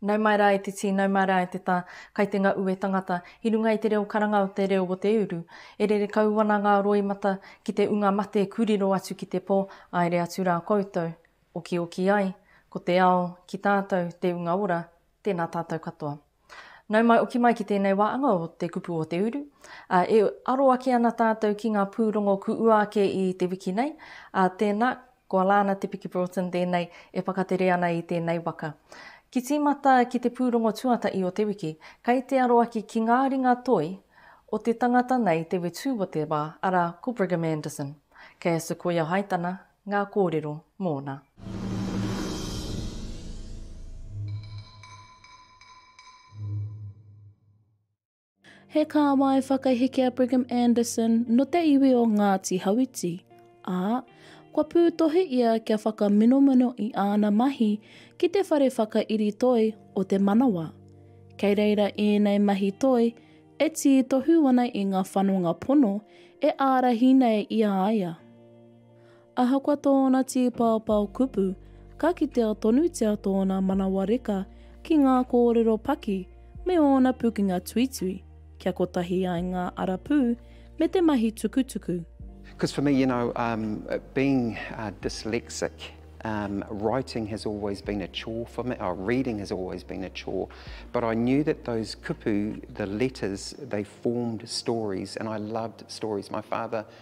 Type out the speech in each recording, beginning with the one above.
Nau mai rā e te tī, nau mai rā e te tā, kai te ngau e tangata, i runga i te reo karanga o te reo o te uru. E rere kau ana ngā roimata ki te unga mate ku riro atu ki te pō, aere atu rā koutou. Okioki ai, ko te ao ki tātou te unga ora, tēnā tātou katoa. Nau mai oki mai ki tēnei wā anga o te kupu o te uru, ā, e aro ake ana tātou ki ngā pūrongo kuua ake i te wiki nei, ā, tēnā, ko Alana Te Piki Broughton tēnei e whakatere ana i tēnei waka. Ki tīmata ki te pūrongo tuatahi o te wiki, kei te aro ake ki ngā ringa toi o te tangata nei te wetū o te wā, arā, ko Brigham Anderson. Kei a Sequoia Haitana Ngā kōrero mōna. He kāwai whakaheke a Brigham Anderson nō te iwi o Ngāti Hauiti, ā, kua pūtohi ia kia whakaminomino i āna mahi ki te whare whakairi toi o te manawa. Kei reira ēnei mahi toi e tītohu ana i ngā whanonga pono e ārahi nei i a ia. Ahakoa tōna tīpaopao kupu, ka kitea tonutia tōna manawa reka ki ngā kōrero paki me ōna pukenga tuitui, kia kotahi ai ngā arapū me te mahi tukutuku. Because for me, you know, um, being uh, dyslexic, um, writing has always been a chore for me, oh, reading has always been a chore, but I knew that those kupu, the letters, they formed stories, and I loved stories. My father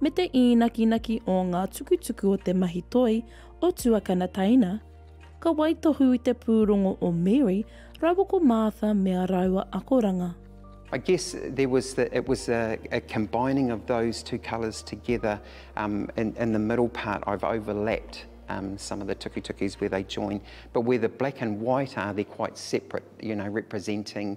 me te īnakinaki o ngā tukutuku o te mahi toi o Tuakana Taina, ka waitohu i te pūrongo o Mary rawa ko Martha me a rāua akoranga. I guess there was the, it was a, a combining of those two colours together um, in, in the middle part I've overlapped um, some of the tukutukis where they join but where the black and white are they're quite separate you know representing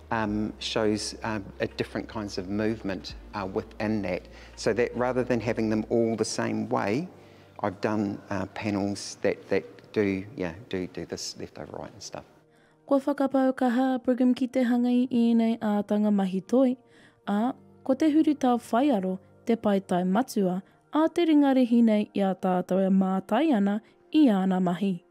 Um, shows uh, a different kinds of movement uh, within that. So that rather than having them all the same way, I've done uh, panels that, that do, yeah, do, do this left over right and stuff. Kua whakapau kaha a Brigham ki te hanga i ēnei ātanga mahi toi, ā, ko te huritao whaiaro te paetae matua a te ringarehi nei i a tātou e mātai ana i āna mahi.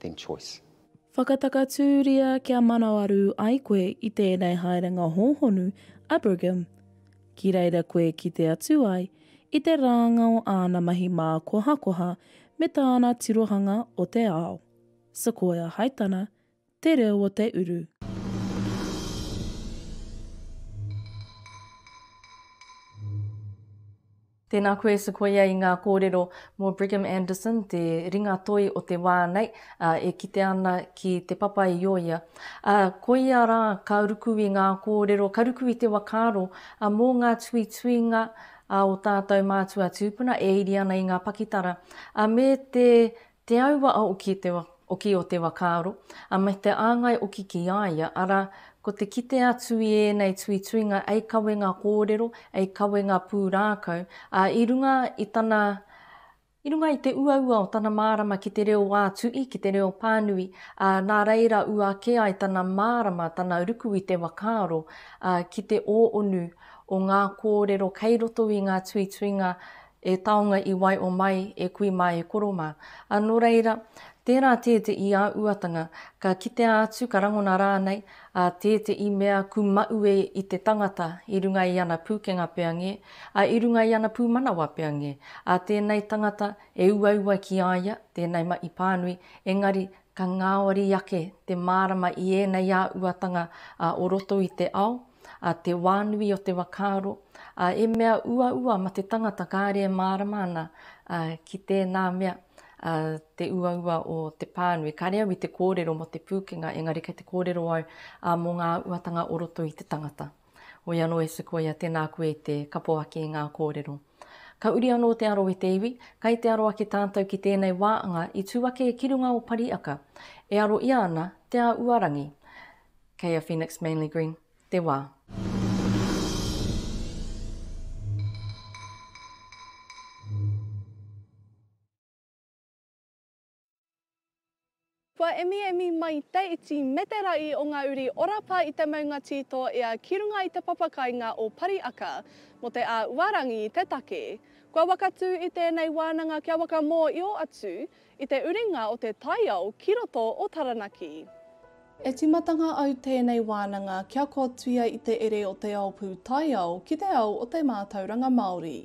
then choice. Whakatakatūria kia manawarū ai koe i tēnei haerenga hōhonu Abraham ki reira koe ki te atu ai i te rānga o āna mahi mākohakoha me tāna tirohanga o te ao. Sequoia Haitana, Te Reo o te Uru. Tēnā koe Sequoia i ngā kōrero mō Brigham Anderson, te ringa toi o te wā nei, ā, e kite ana ki Te Papa i o ia. Ā, koia rā ka ruku i ngā kōrero, ka ruku i te whakaaro mō ngā tuituinga o tātou mātua tūpuna e iri ana i ngā pakitara, ā, me te Te aua a oki te oki o te wakaaro, a me te āngai oki ki a ia, arā, ko te kite atu i ēnei tuituinga ei kawenga kōrero, ei kawenga pūrākau, ā, i runga i tana, i runga i te uaua o tana mārama ki te reo wā-tuhi, ki te reo pānui, ā, nā reira ua ake ai tana mārama, tana ruku i te wakaaro, ā, ki te ō-onu o ngā kōrero kei roto i ngā tuituinga E taonga i waio mai e kui ma e koro ma. A no reira, tera te te i a uatanga, ka kitea atu ka rangona ranei a te te i mea ku maue i te tangata i runga i ana pukenga pea nge, a i runga i ana pumanawa pea nge, a tenei tangata e uaua ki a ia, tenei ma i panui, engari ka ngaori ake te marama i enei a uatanga a o roto i te ao, a te wānui o te whakaaro, a e mea uaua ma te tangata kāre e mārama ana ki tēnā mea te uaua o te pānui. Kāre au i te kōrero mo te pūkenga, engari kei te kōrero au mo ngā uatanga o roto i te tangata. Hoi anō e Sequoia, tēnā koe i te kapo ake i ngā kōrero. Ka uri anō te aro e te iwi, kai te aro ake tātou ki tēnei wāanga i tū ake ki runga o Pariaka, e aro ia ana te a Uarangi. Kei a Phoenix Manly Green te wā. Kua emiemi mai te iti me te raʻi o ngā uri ora pā i te maunga tītō ea ki runga i te papakāinga o Pariaka mō te āuarangi i te take. Kua wakatū i tēnei wānanga kia wakamōio atu I te uringa o te taiao ki roto o Taranaki. E tīmatanga au tēnei wānanga kia kotuia i te ere o te ao pūtaiao ki te ao o te mātauranga Māori.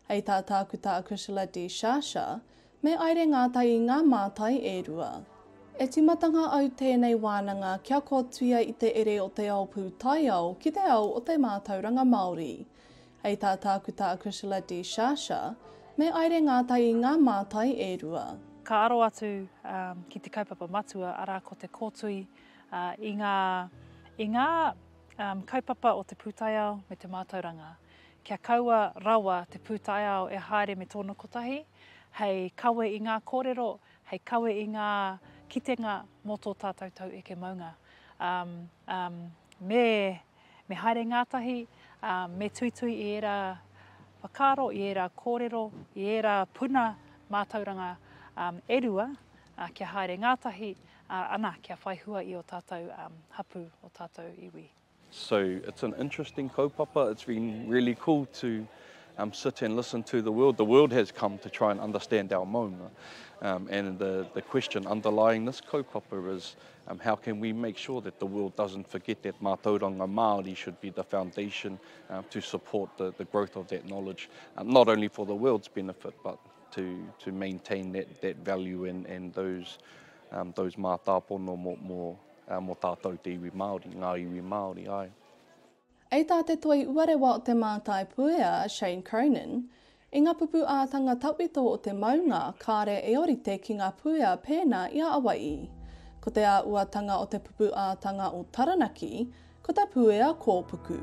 Hei tā Tākuta a Chrisela De Sciascia, me aire ngātai i ngā mātai e rua. E tīmatanga au tēnei wānanga kia kotuia i te ere o te ao pūtaiao ki te ao o te mātauranga Māori. Hei tā Tākuta Acrisula Di Sciascia, me aire ngātai i ngā mātai e rua. Ka aro atu ki te kaupapa matua, arā, ko te kōtui i ngā, i ngā kaupapa o te pūtaiao me te mātauranga. Kia kaua rawa te pūtaiao e haere me tōna kotahi, hei kawe i ngā kōrero, hei kawe i ngā kitenga mō tō tātou taueke maunga. Me. Me haere ngātahi, ā, me tuitui i ērā whakaaro, i ērā kōrero, i ērā puna mātauranga e rua kia haere ngātahi, ā, ana, kia whai hua i ō tātou hapū, ō tātou iwi. So, it's an interesting kaupapa, it's been really cool to um, sit and listen to the world. The world has come to try and understand our maunga. Um, and the, the question underlying this kaupapa is, Um, how can we make sure that the world doesn't forget that mātauranga Māori should be the foundation um, to support the, the growth of that knowledge, um, not only for the world's benefit, but to, to maintain that, that value and, and those, um, those mātāpono mō, mō, uh, mō tātou te iwi Māori, ngā iwi Māori, ai. Ei tā te Toi Uarewa o Te Mātaipuea, Shane Cronin, I ngā pupū ātanga tawhito o te maunga, kāre e orite ki ngā puea pēnā i a Awai'i. Ko te āuatanga o te pupū ātanga o Taranaki, ko te puea kōpuku.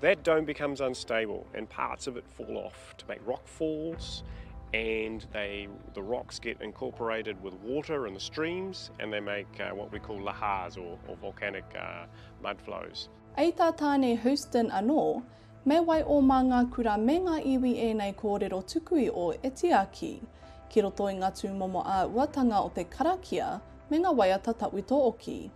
That dome becomes unstable and parts of it fall off to make rock falls and they, the rocks get incorporated with water and the streams and they make uh, what we call lahars or, or volcanic uh, mud flows. Ei tā Tāne Houston anō, me wai o mā ngā kura me ngā iwi ēnei kōrero tuku i o e tiaki, ki roto i ngā tūmomo āuatanga o te karakia me ngā waiata tawhito oki.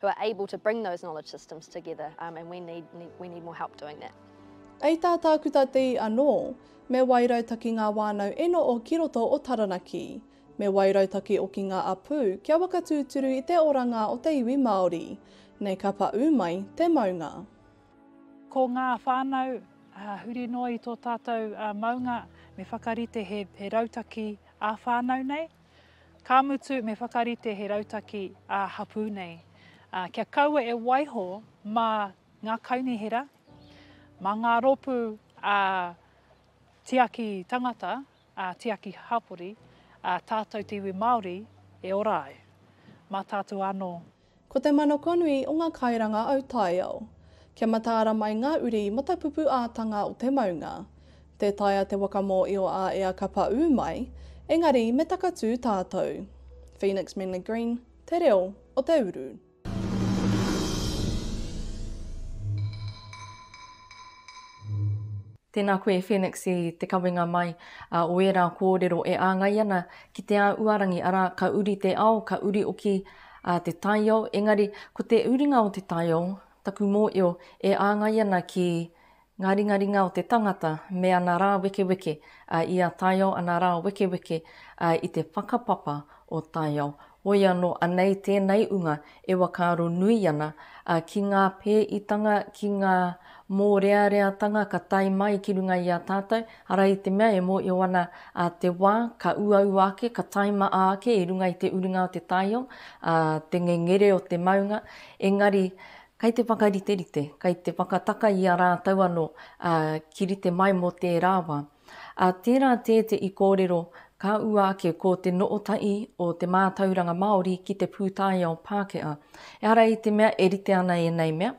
who are able to bring those knowledge systems together um, and we need, need, we need more help doing that. Kei tā Tākuta Te I anō, me wairautaki ngā wānau eno o ki roto o Taranaki. Me wairautaki o ki ngā apū kia waka tūturu i te oranga o te iwi Māori. Nei ka pa ū mai te maunga. Ko ngā whānau uh, huri noa i tō tātou uh, maunga, me whakarite he, he rautaki ā-whānau nei. Ka mutu me whakarite he rautaki ā-hapū nei kia kaua e waiho mā ngā kaunihera, mā ngā rōpū ā-tiaki tangata, ā-tiaki hapori, ā tātou te iwi Māori e ora ai. Mā tātou anō Ko te manakonui o ngā kairanga autaiao. Kia mataara mai ngā uri matapupu ātanga o te maunga. Tē taea te waka mōio a ea ka pa ū mai, engari me takatū tātou. Phoenix Menley Green, Te Reo o te Uru. Tēnā koe Phoenix i te kawenga mai o ērā kōrero e āngai ana ki Te Āuarangi, arā, ka uri te ao, ka uri oki A te taio, engari, ko te uringa o te taio, taku mōio, e āngai ana ki Ngā ringaringa o te tangata me ana rā wekeweke, a i a taio ana rā wekeweke, a i te whakapapa o taio. Hoi anō, anei tēnei unga e wakaaro nui ana, a ki ngā pēitanga, ki ngā mōreareatanga ka tae mai ki runga i a tātou, Arā i te mea e mōio ana te wā, ka uaua ake, ka taimaa ake i runga i te urunga o te taiao, te ngengere o te maunga, engari kei te whakariterite, kei te whakataka i a rātou anō ki rite mai mō tērā wā. Tērā tē te i kōrero ka ua ake ko te nootaʻi o te mātauranga Māori ki te pūtaiao Pākehā. Ehara i te mea e rite ana ēnei mea,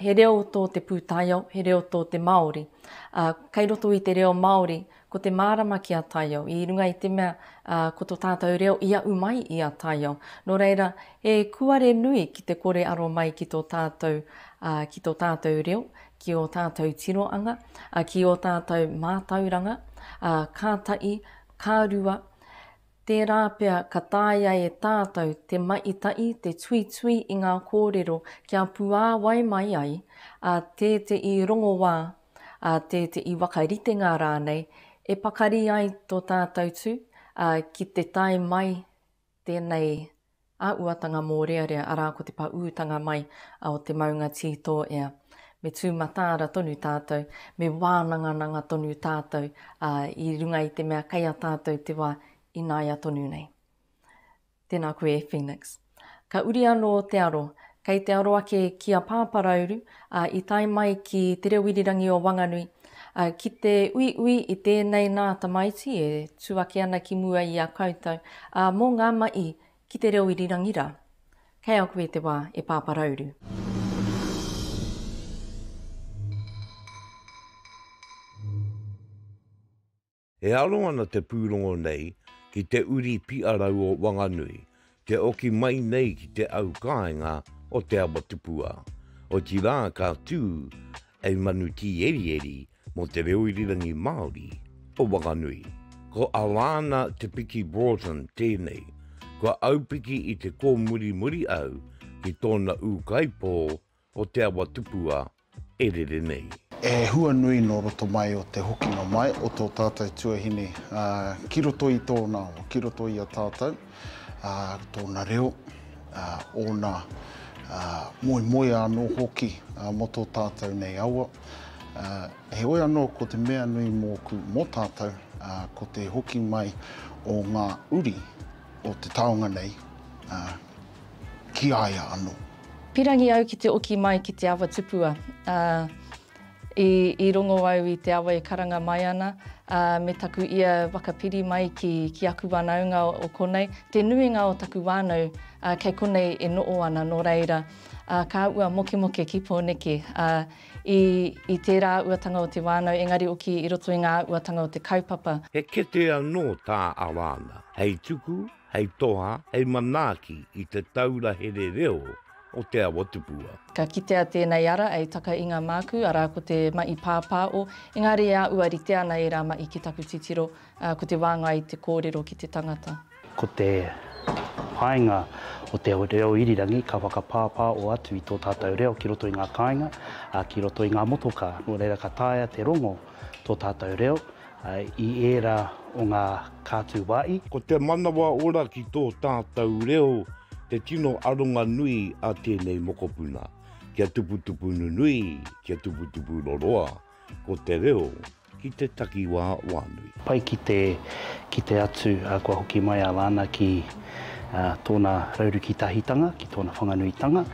he reo tō te pūtaiao, he reo tō te Māori. Ā, kei roto i te reo Māori, ko te mārama ki a taiao, i runga i te mea, ā, ko to tātou reo i aʻu mai i a taiao. Nō reira, he kuare nui ki te kore aro mai ki tō tātou, ā, ki tō tātou reo, ki ō tātou tiroanga, ā, ki ō tātou mātauranga, ā, ka taʻi, ka rua, Tērā pea ka taea e tātou te maitaʻi, te tuitui i ngā kōrero kia puāwai mai ai ā tēteʻi rongoā, ā tēteʻi wakaritenga rānei e pakari ai tō tātou tū, ā, ki te tae mai tēnei Āhuatanga mōrearea arā ko te paūtanga mai o te maunga tītōea. Me tū mataara tonu tātou, me wānangananga tonu tātou i runga i te mea kei a tātou te wā ināia tonu nei. Tēnā koe e Phoenix. Ka uri anō te aro. Kei te aro ake ki a Pāparauru, ā, i tae mai ki Te Reo Irirangi o Wanganui, Ki te uiui i tēnei nā tamaiti e tū ake ana ki mua i a koutou, ā, mō ngā maʻi ki te reo irirangi rā. Kei a koe te wā, e Pāpā Rauru. E aro ana te pūrongo nei ki te uri piʻarau o Wanganui, te oki mai nei ki te au kāinga o Te Awatupua, otirā ka tū a Manu Tīerieri mō te reo irirangi Māori o Wanganui. Ko Alana Te Piki Broughton tēnei, kua aupiki i te kōmurimuri au ki tōna ūkaipō o te awa tupua e rere nei. He hua nui nō roto mai o te hokinga mai o tō tātou tuahine ki roto i tōna awa, ki roto i a tātou, tōna reo, ōna moemoea anō hoki mō tō tātou nei awa. Heoi anō, ko te mea nui mōku, mō tātou, ko te hoki mai o ngā uri o te taonga nei ki a ia anō. Pirangi au ki te oki mai ki te awa tupua, ā, i, i rongo au i te awa e karanga mai ana, ā, me taku ia whakapiri mai ki, ki aku wānaunga o konei, te nuinga o taku whānau, ā, kei konei e noʻo ana, nō reira, ā, ka ua mokemoke ki Pōneke, ā, i, i tērā uatanga o te wānau, engari oki i roto i ngā uatanga o te kaupapa. He kete anō tā Alana hei tuku hei toha, hei manaaki i te taura here reo o Te Awatupua. Ka kitea tēnei ara ei taka i ngā mākū, arā ko te maʻi pāpāʻo, engāri e āʻua rite ana ērā maʻi ki taku titiro, ā, ko te wāngai i te kōrero ki te tangata. Ko te painga o te reo irirangi ka whakapāpāʻo atu i tō tātou reo ki roto i ngā kāinga, ā, ki roto i ngā motokā, nō reira ka taea te rongo tō tātou reo, i ērā o ngā kātūwāhi. Ko te manawa ora ki tō tātou reo te tino aronga nui a tēnei mokopuna. Kia tuputupu nunui, kia tuputupu roroa, ko te reo ki te takiwā wānui. Pai ki te kite atu kua hoki mai a Lana ki tōna raurukitahitanga, ki tōna whanganuitanga,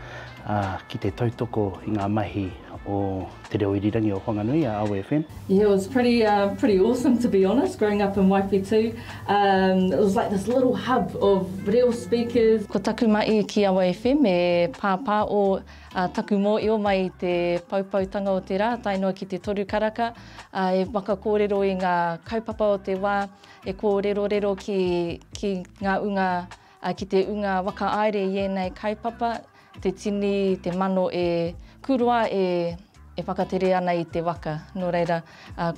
ki te tautoko i ngā mahi o. Te Reo Irirangi o Whanganui a Awe FM. Yeah, it was pretty um, pretty awesome to be honest, growing up in Waiwhetū. Um, it was like this little hub of reo speakers. Ko taku mahi ki Awa FM e pāpā o uh, taku mōio mai i te paupautanga o te rā, tae noa ki te toru karaka, uh, e whakakōrero i ngā kaupapa o te wā, e kōrerorero ki, ki ngā unga Ki te ūnga whakaāere i ēnei kaupapa, te tini, te mano e kuroa e whakatere ana i te waka, nō reira,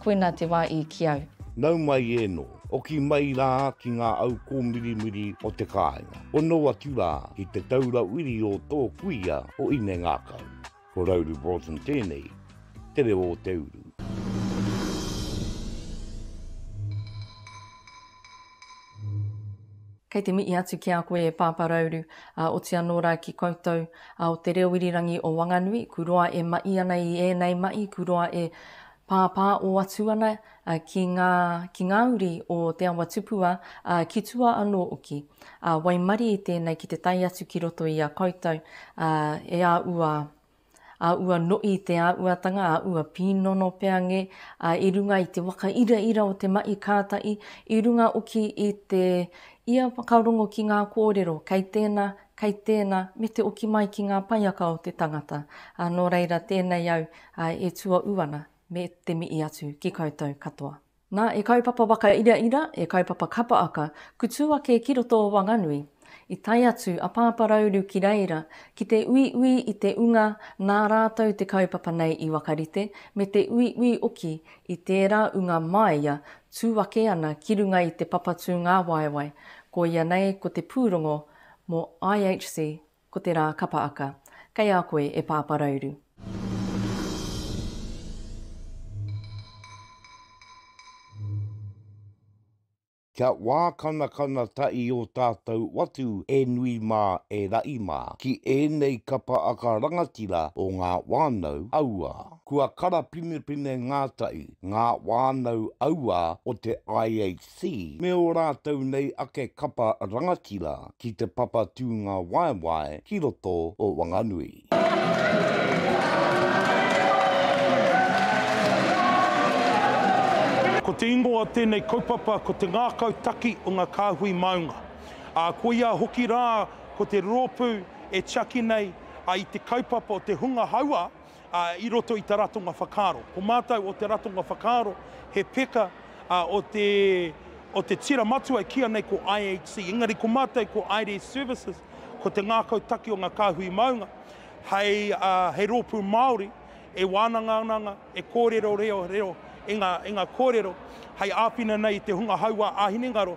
koina te wā i ki au. Nau mai ēnō, oki mai rā ki ngā au kōmirimiri o te kāinga, hono atu rā ki te taura wiri o tō kuia o Inengākau. Ko Rauru Broughton tēnei, te reo o te uru. Kei te mihi atu ki a koe e Pāpā Rauru, ā, oti anō rā ki koutou, ā, o te reo irirangi o Wanganui, ku roa e mahi ana i ēnei mahi, ku roa e. Pāpā o atu ana ki ngā, ki ngā uri o Te Awa Tupua, ā, ki tua anō oki. Ā, waimarie i tēnei ki te tae atu ki roto i a koutou, ā, e a ua, a ua noʻi i te āʻuatanga, a ua pīnono pea nge, ā, i runga i te waka iraira o te maʻi kātaʻi, i runga oki i te, ia whakarongo ki ngā kōrero, kei tēna, kei tēnā me te oki mai ki ngā paiaka o te tangata, ā, nō reira tēnei au e tuaū ana me te mihi atu ki koutou katoa. Nā, e kaupapa wakairaira, e kaupapa kapa aka, kutū ake ki roto o Wanganui, i tae atu a Pāpā Rauru ki reira ki te uiui i te unga nā rātou te kaupapa nei i wakarite me te uiui oki i tērā unga māia tū ake ana ki runga i te papatū ngāwaewae, koia nei ko te pūrongo Mō IHC, ko te rā kapa aka. Kei a koe e Pāpā Rauru. Kia wā kanakana taʻi o tātou watu e nui mā e raʻi mā ki ēnei kapa aka rangatira o ngā wānau auā. Kua karapinepine ngā taʻi, ngā wānau auā o te IHC. Xi me ō rātou nei ake kapa rangatira ki te papa tūnga waewae ki roto o Wanganui. Ko te ingoa o tēnei kaupapa ko te Ngākau Taki o ngā Kāhui Maunga, ā, koia hoki rā ko te rōpū e tiaki nei i te kaupapa o te hunga hauā ā, i roto i te ratonga whakaaro. Ko mātou o te ratonga whakaaro, he peka, ā, o te, o te tira matua e kīia nei ko IHC. Engari ko mātou ko IDES Services, ko te ngākau taki o ngā kāhui maunga, hei, ā, hei rōpū Māori e wānangaananga, e kōrero reo, reo, i ngā, i ngā kōrero, hei āwhina nei i te hunga hauā ā-hinengaro,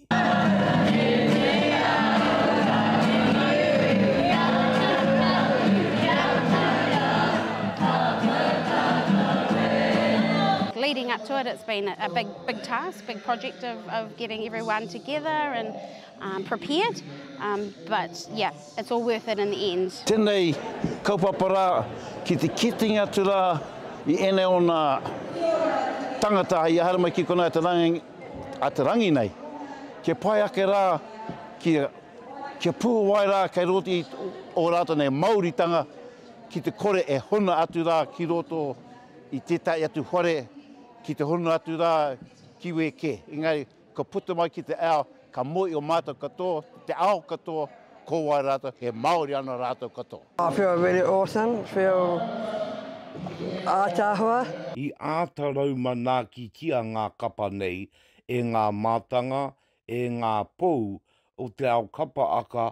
Leading up to it, it's been a big, big task, big project of, of getting everyone together and um, prepared. Um, but yeah, it's all worth it in the end. Tēnei kaupapa rā ki te kitenga atu rā i ēnei o nā tangata i ahara mai ki konā te rāngai a te rangi nei, kia pai ake rā, kia, kia puhawai rā kei roto i ō rātou nei māoritanga ki te kore e hono atu rā ki roto i tētahi atu whare, ki te hono atu rā ki wē kē. Engari, ka puta mai ki te ao, Ka moe i o matou katoa, te ao katoa, ko wai ratou, he Maori ana ratou katoa. I feel really awesome, feel ātaahua. I āta raumanakitia ngā kapa nei e ngā mātanga, e ngā pou o te ao kapa aka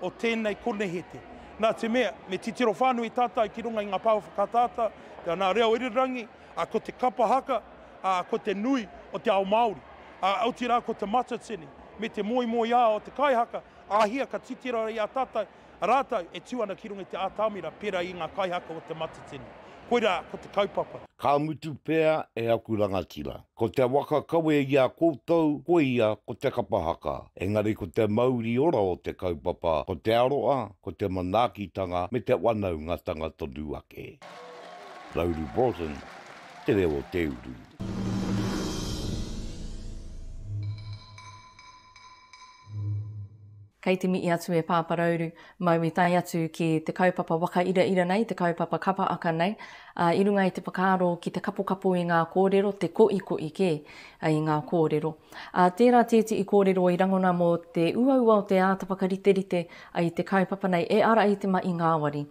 o tēnei konehete. Nā te mea, me titiro whānui tātou ki runga i ngā pāua whakaataata, te ana reo irirangi, ā, ko te kapa haka, ā, ko te nui o te ao Māori, ā, otirā ko te matatini, me te moemoeā o te kaihaka, āhia ka titiro ai a tātou, rātou e tū ana ki runga i te ātamira pērā i ngā kaihaka o te matatini. Koirā ko te kaupapa. Ka mutu pea e aku rangatira. Ko te waka kawe i a koutou koia ko te kapa haka, engari ko te mauri ora o te kaupapa ko te aroa, ko te manaakitanga me te wanaungatanga tonu ake. Lauri Broughton, Te Reo o te Uru. Kei te mihi atu e Pāpā Rauru mau i tae atu ki te kaupapa whakairaira nei, te kaupapa kapa aka nei, ā, i runga i te whakaaro ki te kapokapo i ngā kōrero, te koikoi kē i ngā kōrero. Ā, tērā tētehi kōrero i rangona mō te uaua o te āta whakariterite i te kaupapa nei e ara i te mahi ngāwari.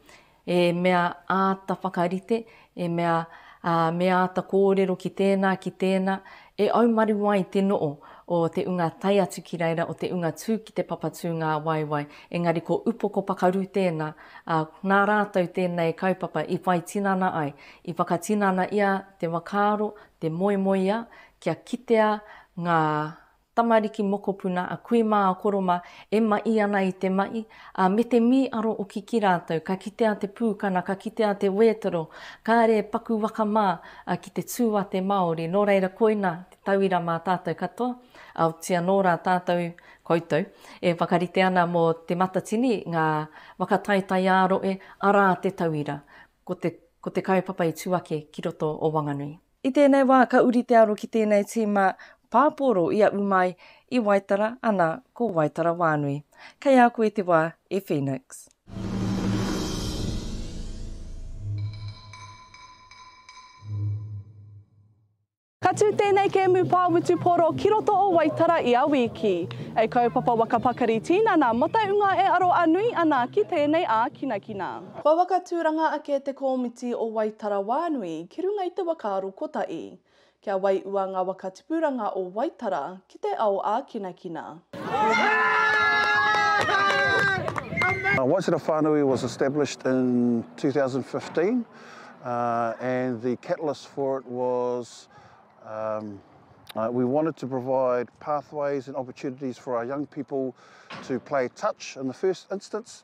He mea āta whakarite, he mea me āta kōrero ki tēnā, ki tēnā, e aumaru ai te no'o o te unga tae atu ki reira, o te unga tū ki te papa tūngāwaewae, engari ko Upoko Pakaru tēnā, ā, nā rātou tēnei kaupapa i whai tinana ai, i whakatinana ia te whakaaro, te moemoeā, kia kitea ngā Tamariki mokopuna a kui mā a Koroma e maʻi ana i te maʻi, a me te mī aro oki ki rātou, ka kitea te pūkana, ka kitea te wētoro, kāre e paku waka mā a ki te tū a te Māori, nō reira koina te tauira mā tātou katoa, aotia nō rā tātou, koutou, e whakarite ana mō Te Matatini ngā waka taetae ā-roe, arā te tauira, ko te, ko te kaupapa i tū ake ki roto o Wanganui. I tēnei wā ka uri te aro ki tēnei tīma pāpōro i a Umai i Waitara ana ko Waitara Wānui. Kei a koe te wā e Phoenix. Ka tū tēnei kēmu pā wutupōro ki roto o Waitara ia wīki. E kaupapa waka pakari tīnana mō te unga e aro a nui ana ki tēnei ākinakina. Kua waka tūranga ake te kōmiti o Waitara Wānui ki runga i te waka aro kotahi. Kia waiua ngā waka tipuranga o Waitara ki te ao ākinakina. Waitara Whānui was established in 2015 and the catalyst for it was we wanted to provide pathways and opportunities for our young people to play touch in the first instance.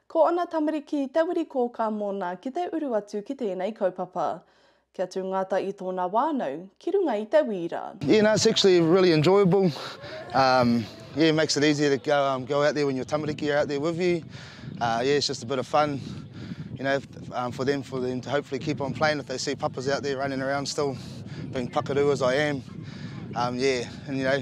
Ko ana tamariki te wiri kōkā mōna ki te uru atu ki tēnei kaupapa. Kia tū Ngata i tōna wānau ki runga i te wīra. Yeah no it's actually really enjoyable um yeah makes it easier to go um go out there when your tamariki are out there with you uh yeah it's just a bit of fun you know um for them for them to hopefully keep on playing if they see papa's out there running around still being pakaru as I am um yeah and you know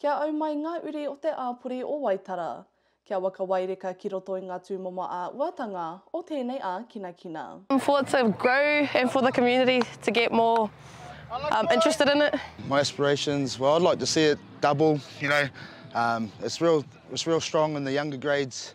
Kia au mai ngā uri o te āpori o Waitara. Kia waka waireka ki roto i ngā tūmomo ā-uatanga o tēnei ākinakina. for it to grow and for the community to get more interested in it. My aspirations, well I'd like to see it double, you know, it's real strong in the younger grades.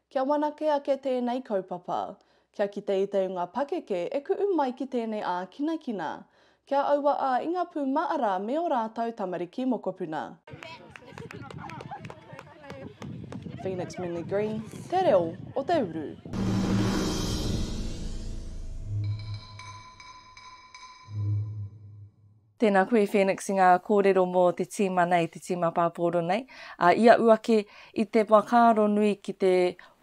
Kia whanake ake tēnei kaupapa. Kia kite i te unga pakeke e kuʻu mai ki tēnei ākinakina. Kia aua ā i ngā pū maʻara me ō rātou tamariki mokopuna. Phoenix Minley Green, Te Reo o te Uru. Tēnā koe Phoenix i ngā kōrero mō te tīma nei, te tīma pāpōro nei. Ā, i aʻu ake i te whakaaro nui ki te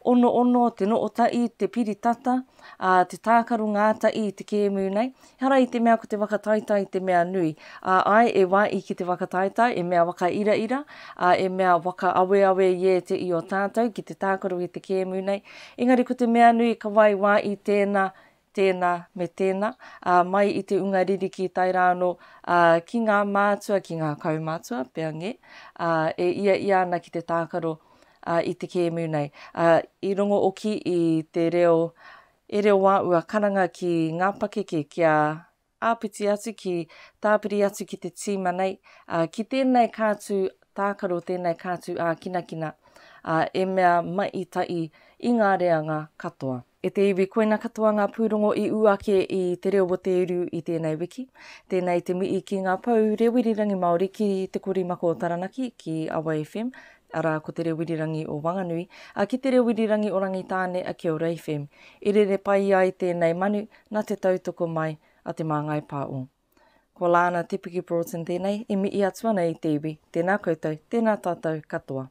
onoono, te noo taʻi, te piri tata, ā, te tākaro ngātaʻi i te kēmu nei. Ehara i te mea ko te whakataetae te mea nui. Ā, āe, e wāʻi ki te whakataetae, e mea whakairaira, ā, e mea whakaaweawe i ēte i o tātou ki te tākaro ki te kēmu nei. Engari ko te mea nui ka wai wāʻi tēnā tēnā me tēnā, ā, mai i te unga ririki tae rā anō ā, ki ngā mātua, ki ngā kaumātua, pea ngē, ā, e ia ia ana ki te tākaro ā, i te kēmu nei. Ā, i rongo oki i te reo e reo wā ua karanga ki ngā pakeke kia āpiti atu ki, tāpiri atu ki te tīma nei, ā, ki tēnei kātū tākaro, tēnei kātū ākinakina, ā, e mea mai tahi i ngā reanga katoa. E te iwi, koina katoa ngā pūrongo i ū ake i Te Reo o Te Uru i tēnei wiki. Tēnei te mihi ki ngā pou Reo Irirangi Māori ki Te Korimako o Taranaki, ki Awa FM, arā, ko Te Rewirirangi o Wanganui, a ki Te Rewirirangi o Rangitāne a Kia Ora FM. I rere pai ai tēnei manu nā te tautoko mai a Te Māngai Pā o. Ko Lana Te Piki Broughton tēnei e mihi atu ana i te iwi, tēnā koutou, tēnā tātou katoa.